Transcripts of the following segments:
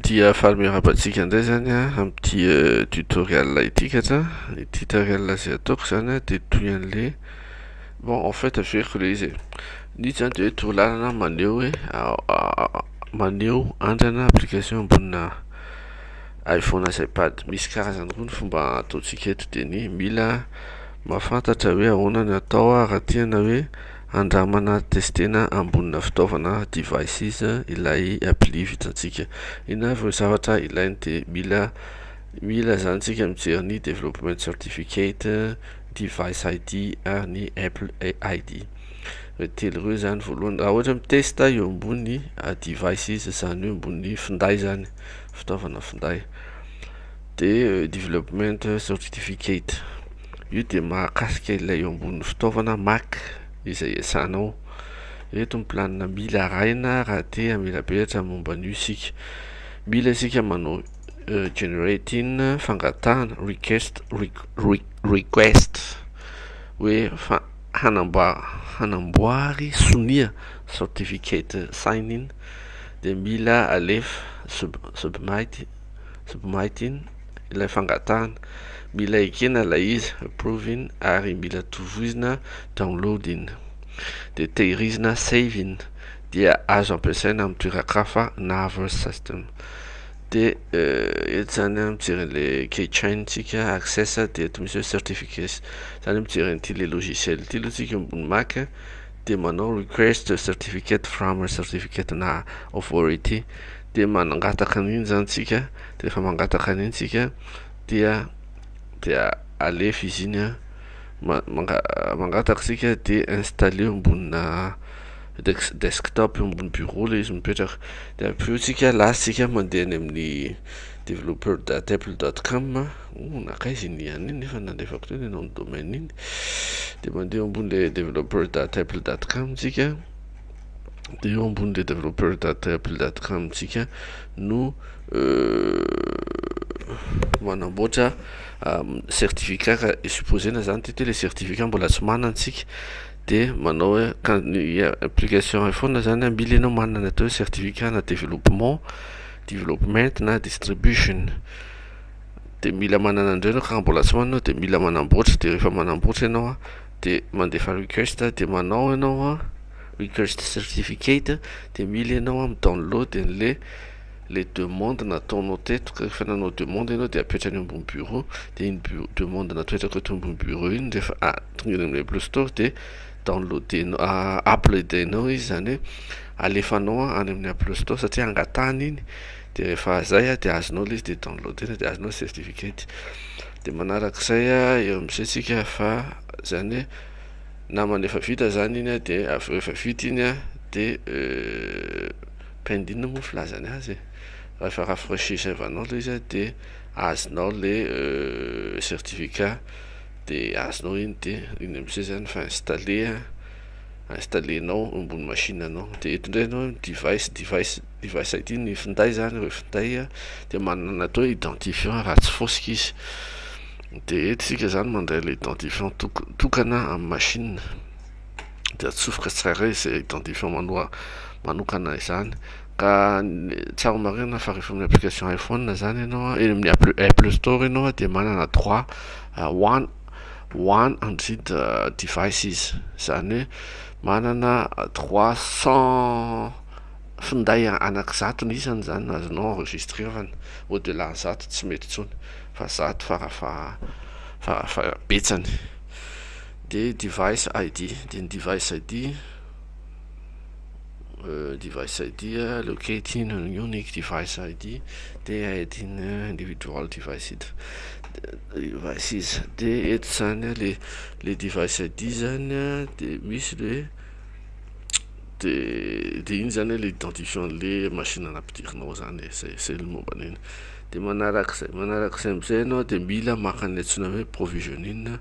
Dia faly miarahaba antsika indray zany amin'ity euh, tutoriel ity katra Ny tutoriel izay ataoko izany dia toy an'le Bon en fait averiko ilay izy e Ny zany dia hoe torolalana maneho hoe Maneho andrana application ambonina iPhone sy iPad Misy karazany roa ny fomba ataontsika eto dia ny mila mahafantatra hoe ahoana ny atao raha tiana hoe Handramana testena ambonina fitaovana, devices, ilay appli vitantsika. Inona avy no zavatra ilainy dia mila mila izany isika mijery ny development certificate, device ID ary ny apple ID. Ireo telo ireo izany voalohany. Raha ohatra mitesta eo ambony devices izany eo ambony finday izany, fitaovana finday dia development certificate. Io dia mahakasika ilay eo ambonin'ny fitaovana Mac izay iasanao. Ireto ny planina mila arahina raha te hamela peratra momba an'io isika. Mila isika manao generate in fangatahana request request hoe fa hanamboara hanamboary sonia certificate sign in dia mila alefa submit submit in. ilay fangatahana mila ekena ilay izy approving ary mila tovoizina downloading de tehirizina saving dia azo ampiasaina amin'ny toeran-kafa na other system de eh, eto zany a mijery an'le keychain tsika access de eto misy hoe certificates zany mijery an'ity le logiciel ity aloha tsika ambony mac de manao request certificate from certificate na authority dia mangataka an'iny izany tsika dia efa mangataka an'iny tsika dia dia alefa izy iny an mangataka tsika dia installé eo ambonina desktop eo ambony bureau ilay izy mipetraka dia avy eo tsika lasa tsika mandeha any amin'ny developer dot apple dot com oh nankaiza iny ihany iny nefa nalefako teo ny nom de domaine iny dia mandeha eo ambony ilay developer dot apple dot com tsika dia eo ambony le developer data apple dot com tsika no manamboatra certificat ka supposena zany ty le certificat mbola tsy manana tsika dia manao hoe ka ny application iphone zany a mila ianao manana ny atao hoe certificat na développement development na distribution de mila manana an'ireo ianao ka mbola tsy manana de mila manamboatra de rehefa manamboatra ianao a de mandefa request de manao ianao a request certificate dia mila ianao a mi download an'le le demande nataonao teto ka rehefa nanao demande ianao dia apetra any ambony bureau dia iny bu- demande natao eto akoto ambony bureau iny rehefa a- tongany amin'ny play store dia downloadenao a- uploadenao izy zany hoe alefanao a- any amin'ny play store satria angatahany iny dia rehefa zay a dia azonao le izy dia downloadena dia azonao ny certificate dia manarak'izay a eo amin'izay tsika fa zany hoe namana efa vita zany iny a de avy eo efa vita iny a de pending moa filazany azy e raha efa rafrecher save anao le izy a de azonao le certificat de azonao iny de iny amizay zany efa installer a installer nao eo ambony machine anao de eto ndray enao device device Device ID ny finday zany hoe finday dia manana atao hoe identifiant raha tsy fosika izy dia eto isika zany mandray ilay identifiant tokana amin'ny machine dia atsofoka tsirairay izay identifiant manoa manokana izany ka tsara marina fa rehefa amin'ny application iPhone zany ianao eny amin'ny Apple Store ianao dia manana droit one one hundred devices izany hoe manana trois cent finday anaky zato ny isany izany no azonao enregistrerana, au delà zato tsy mety intsony fa zato fara faha fara faha betsany, dia device ID, dia ny device ID device ID locating an unique device ID, TID individual device ID devices, dia eto izany le le device ID izany dia misy le. de de iny zany hoe le identifiant anle machine nampidirinao zany e, zay zay le momba an'iny, de manarak'izay manarak'izay am'zay enao de mila maka anle antsoina hoe provisioning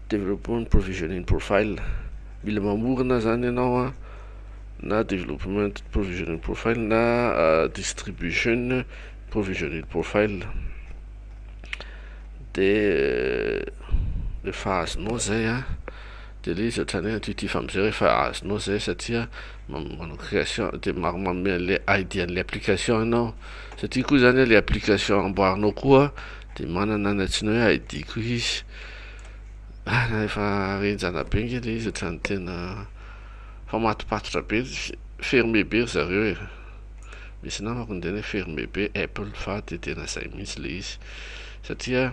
development provisioning profile, mila mamorona zany enao an na development provisioning profile na distribution provisioning profile. de rehefa azonao zay a de le izy ohatrany hoe intuitif amizay rehefa azonao zay satria manao création de manome anle idea anle application enao satria koa zany le application amboarinao koa de manana ny antsoina hoe idea koa izy ah na efa enjana be nge le izy ohatrany tena efa mahatopatotra be ferme be ry zareo e. misy namako niteny hoe fermé be apple fa de tena zay mihitsy le izy satria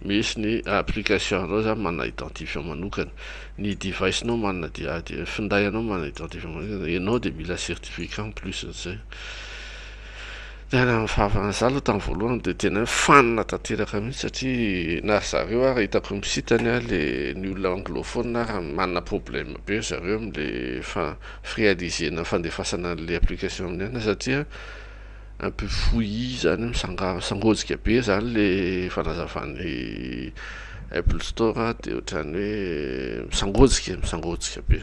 misy ny application anao zany manana identifiant manokana ny device nao manana dia de finday anao manana identifiant manokana enao de mila certificat en plus nizay tena mifafana za aloha tamin'ny voalohany de tena hoe fanina tanteraka mihitsy satria na ry zareo ary hitako misitany ary le ny olona anglophone ary manana problème be ry zareo amle fa Fréalisena fandefasana anle application amin'ny anona satria un peu fouillis zany misangoajika be zany le fanazavan'ny apple store de otrany hoe misangoajika misangoajika be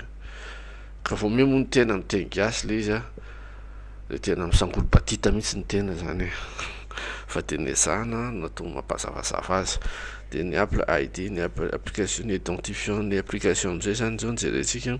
ka vao miha moa ny tena miteny gasy le izy a le tena misangolo batita mihitsy ny tena zany e fa de ny ezahana no atao mampazavazava azy de ny apple ID ny application identifiant ny application amizay zany zao no jerentsika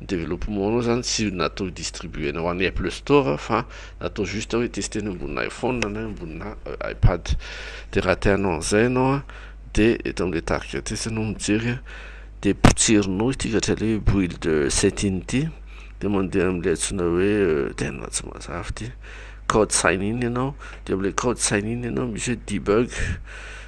Development anao zany tsy natao ho distribuena ho any Apple store fa natao juste hoe tester ny ambonina iPhone na ambonina iPad de raha te hanao an'izay ianao a de eto amle target etsy ianao mijery a de potserinao ity ohatra le hoe build setting ity de mandeha amle antsoina hoe tena tsy mazava ity code sign in ianao de amle code sign in ianao misy hoe debug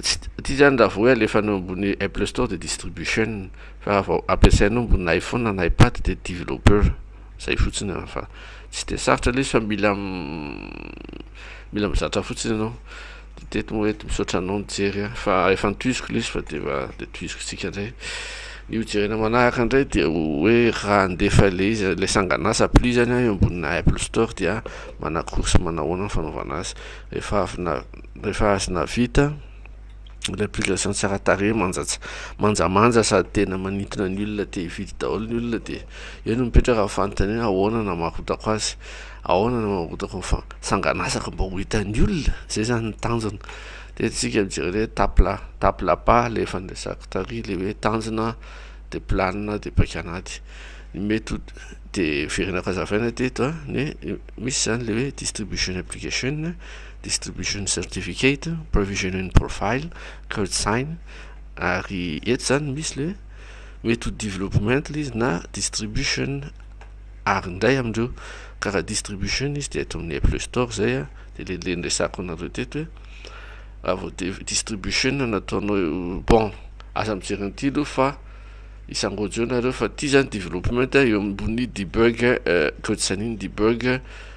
Tsy tia zany raha vao hoe alefanao ambony Apple store dia distribution fa raha vao ampiasainao ambony iPhone na iPad dia developer zay fotsiny an fa tsy dia sarotra le izy fa mila mila mizatra fotsiny ianao de teto moa eto misaotra anao nijery an fa efa nitohiziko le izy fa dia dia tohiziko tsika indray ny ho jerena manaraka indray dia hoe raha handefa le izy le sanganasa plus zany an eo ambonina Apple store dia manakoro sy manahoana ny fanaovana azy rehefa avy na Rehefa azo navita ilay application tsara tarehy manjatsa manjamanja sady tena manintona ny olona te hividy daholo ny olona dia eo no mipetraka ny fanontaniana ahoana na marotako azy ahoana na marotako fa sanganasako mba ho hitan'ny olona zay zany ny tanjona dia tsika mijery hoe tapla tapla pa le efa niresako tary le hoe tanjona dia planina dia paika anaty ny mety ho dia firenako hazavaina teto a ny misy zany le hoe distribution application distribution certificate, provisioning profile, code sign, ary eto zany misy le mety ho development izy na distribution ary indray amindreo ka raha distribution izy dia eto amin'ny Apple Store zay a dia le le resako anareo teto hoe raha vao distribution nataonao eo bon aza mijery an'ity aloha fa isangojo nareo fa ty zany development eo ambony debug code sign-in debug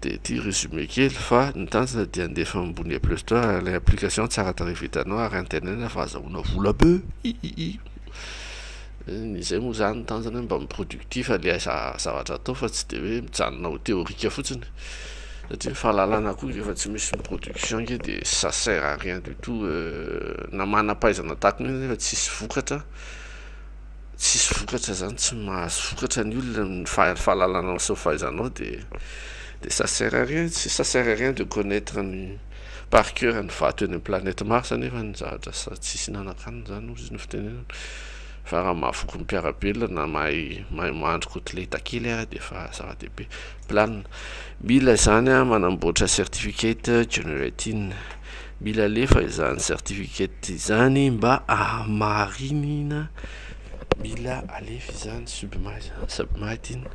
dia ity résumé kely fa ny tanjona dia handefa ambony play store ilay application tsara tarehy vitanao ary antenaina fa azahoana vola be hihihi ny izay moa zany ny tanjona mba mi productif ilay zavatra atao fa tsy dia hoe mijanona ho théorique fotsiny satria ny fahalalana koa rehefa tsy misy ny production nge dia ça sert à rien du tout na manam-pahaizana tahaka ny hoe nefa tsisy vokatra tsisy vokatra zany tsy mahazo vokatra ny olona ny fahalalanao sy ny fahaizanao de de ça sert à rien tsy ça sert à rien de connaitre ny par coeur ny vato eny amin'ny planète Mars nefa ny zavatra sady tsisy hinanan-kanina zany hozy ny fitenenana fa raha mahavoky ny mpiara-belona na mahay mahay mahandro kotileta kely ary de efa zava-dehibe planina mila zany a manamboatra certificate generating Mila alefa izany certificate izany mba ahamarinina, mila alefa izany subma izany, subma ity no,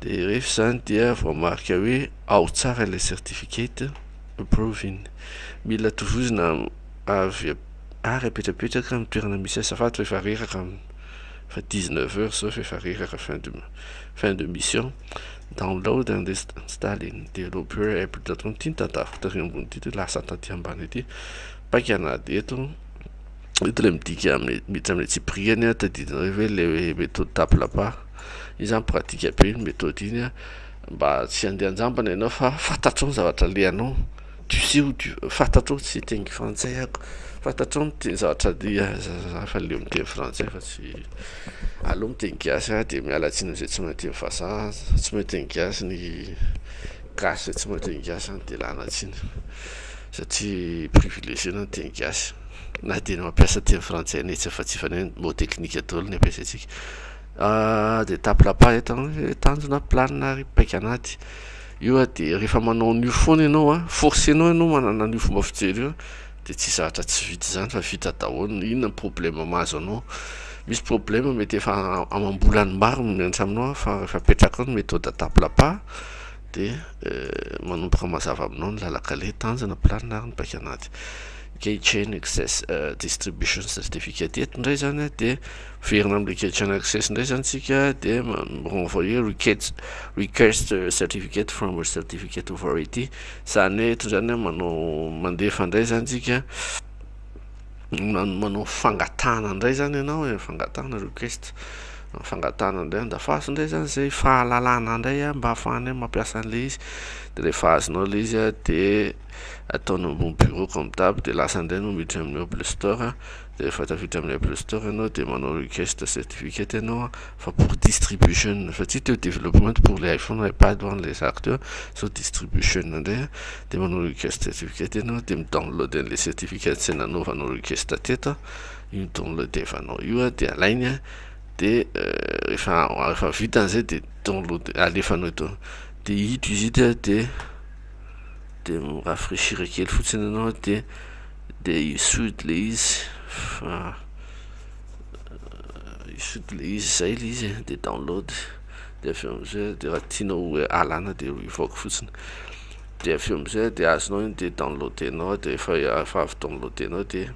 de rehefa izany dia voamarika hoe ao tsara ilay certificate approving, mila tovozina avy ary apetrapetraka amin'ny toerana misy azy, azafady fa efa reraka amin'ny, efa dix neuf heures izao fa efa reraka fin de, fin de mission. Download and install in developer app dot com ity tadaviko tary ambony ity dia lasa taty ambany ity paika na dia eto eto ilay midika amin'ny miditra amin'ny antsipiriany a tadidinareo ve ilay hoe méthode tape lapa iny zany pratika be iny méthode iny a mba tsy handeha an-jambany ianao fa fantatrao ny zavatra alehanao Tu sais où tu fantatrao tsy hiteny frantsay ako, fantatrao ny teny zavatra dia za fa leo miteny frantsay fa tsy aleo miteny gasy ah de miala tsiny amzay tsy mahay miteny vazaha tsy mahay miteny gasy ny gasy zay tsy mahay miteny gasy zany de lana tsiny satria privilegier anao miteny gasy na de ny mampiasa teny frantsay netsy fa tsy fanao ny mot teknika daholo ny ampiasaintsika de tape la page tanjona planina ary paika anaty. Io a dia rehefa manao an'io foana ianao a, forcenao ianao manana an'io fomba fijery io a, dia tsy zatra tsy vita izany fa vita daholo ny inona ny problème mahazo anao. Misy problème mety efa amam-bolany maro no mianatra aminao a, fa rehefa apetrakao ny méthode tape la pas dia manomboka mazava aminao ny lalan-kaleha, tanjona, planina ary ny paika anaty. Key chain access distribution certificate eto indray izany a dia. Miverina amin'ny request chain access indray izany isika dia mi-renvoyer request, request certificate from a certificate of variety. Izany hoe eto izany manao mandefa indray izany isika manao fangatahana indray izany ianao hoe fangatahana request fangatahana indray andafasy indray izany izay fahalalana indray mba hahafahanay mampiasa an'ilay izy dia rehefa azonao ilay izy dia ataonao ambony bureau comme d'hab dia lasa indray no miditra amin'ny Apple Store. Rehefa tafiditra amin'ilay play store ianao dia manao request certificate ianao an, fa pour distribution fa tsy teo development pour le iPhone ou iPad hoan ilay zaka teo sao distribution indray an, dia manao request certificate ianao dia mi download an'ilay certificate izay nanaovanao request teto an, io downlodevanao io an dia alainy an, dia rehefa rehefa vita an'izay dia download alefanao eto dia hita izy dia dia mi rafraichir kely fotsiny ianao dia dia hisody ilay izy fa hisody ilay izy izay ilay izy e, dia download dia avy eo amin'izay dia raha tianao hoe alana dia revoke fotsiny, dia avy eo amin'izay dia azonao iny dia download-nao dia efa efa avy download-nao dia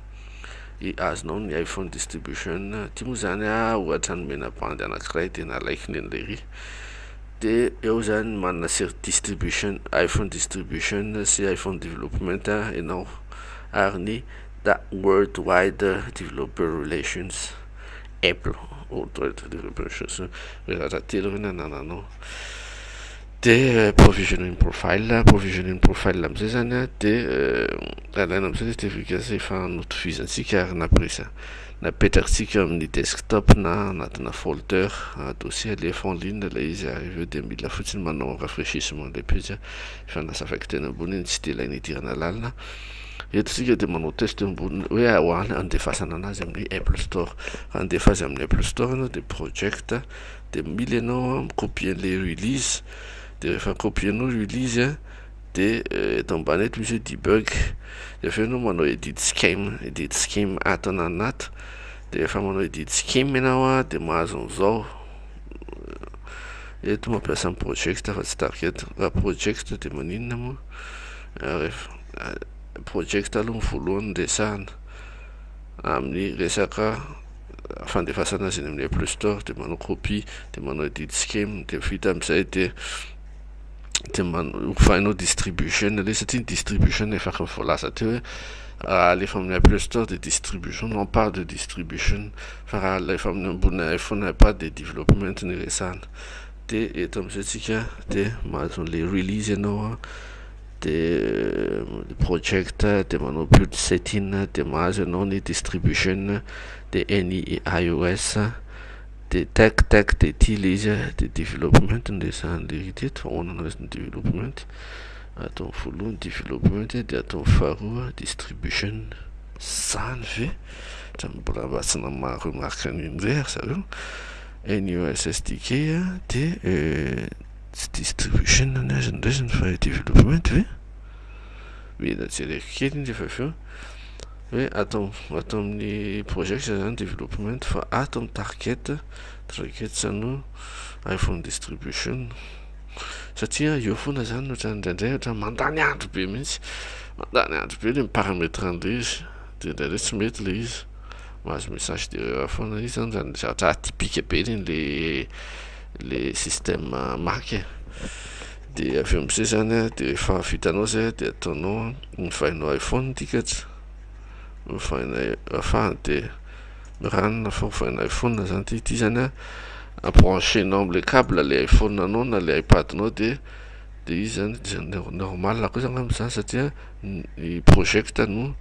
i- azonao ny iPhone distribution, ity moa zany ohatra ny menabandy anankiray dia nalaiko neny lery. de eo zany manana sery distribution iphone distribution sy iphone development enao ary ny da world wide developer relations apple world wide developer relations hoe raha raha telo ireny anananao de provisioning profile provisioning profile amizay zany a de alaina amizay le certificat zay efa notovizintsika ary napresa Napetrakitsika amin'ny desktop na anatina folder, dossier alefa en ligne ilay izy ary avy eo dia mila fotsiny manao rafraîchissement ilay pejy efa nasavaiko teny ambony iny tsy dia ilaina hidirana lalina. Eto isika dia manao test eo ambony hoe ahoana handefasana anazy amin'ny Apple Store. Raha handefa azy amin'ny Apple Store ianao dia project dia mila ianao mi-copier an'ilay release dia rehefa copier-nao release De eto ambany eto misy hoe debug de avy eo enao manao edit scheme edit scheme ato anany ato de refa manao edit scheme enao a de mahazo an'zao eto mampiasa ny project fa tsy target raha project de maninona moa refa project aloha ny voalohany ny resahana amin'ny resaka fandefasana azy eny amin'ny apple store de manao copie de manao edit scheme de vita amizay de de ho fainao distribution aloha satria ny distribution efa efa voalaza teo hoe raha alefa amin'ny apple store de distribution non pas de distribution fa raha alefa amin'ny ambony iphone ipad de development ny resahana de eto amizay tsika de mahazo anle release ianao an de project de manao build setting de mahazo ianao ny distribution de ny ios Dia tech tech dia ity ilay izy a, dia development no resahan'ilay izy teto, ahoana no resahan'ny development, ataony voalohany development dia ataony faharoa distribution, zany ve? Ohatran'ny mbola mba tsy namaha remarque an'iny indray ry zareo, NUSSDK a dia tsy distribution ny azy no resany fa development ve? Mila jereko kely iny rehefa avy eo. hoe ato ato amin'ny project zany development fa ato amin'ny target targets no iPhone distribution satria eo foana zany ohatrany indraindray ohatrany mandany andro be mihitsy mandany andro be le mi-parametre an'ilay izy de indraindray tsy mety le izy mahazo message d'erreur foana izy zany zany zavatra atypique be reny le le système Mac e Dia avy eo amizay zany a de rehefa vitanao zay a de ataonao a ovainao iphone ity kajy ovaina afahany de miranona fa ovaina iphone zany ty ity zany a brancher nao amle cable le iphone anao na le ipad nao de de izy zany de zany de normal koa zany angamba zany satria ny project no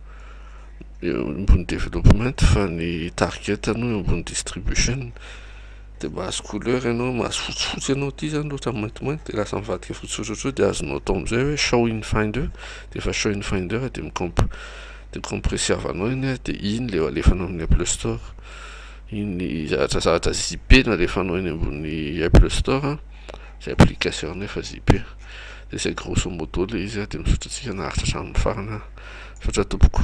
eo ambony development fa ny target no eo ambony distribution. Dia mahazo couleur ianao, mahazo fotsifotsy ianao, ity izany loatra ny maintimainty dia lasa mivadika fotsy sosotrotra dia azonao atao amin'izay hoe show in finder, dia efa show in finder dia mi-comp dia mi-compressy havanao iny dia iny ilay alefanao amin'ny Apple Store, iny zavatra zavatra zippé no alefanao eny ambony Apple Store, izay application efa zippé, dia izay grosso modo ilay izy dia misaotra antsika naharitra hatramin'ny farany, misaotra tompoko.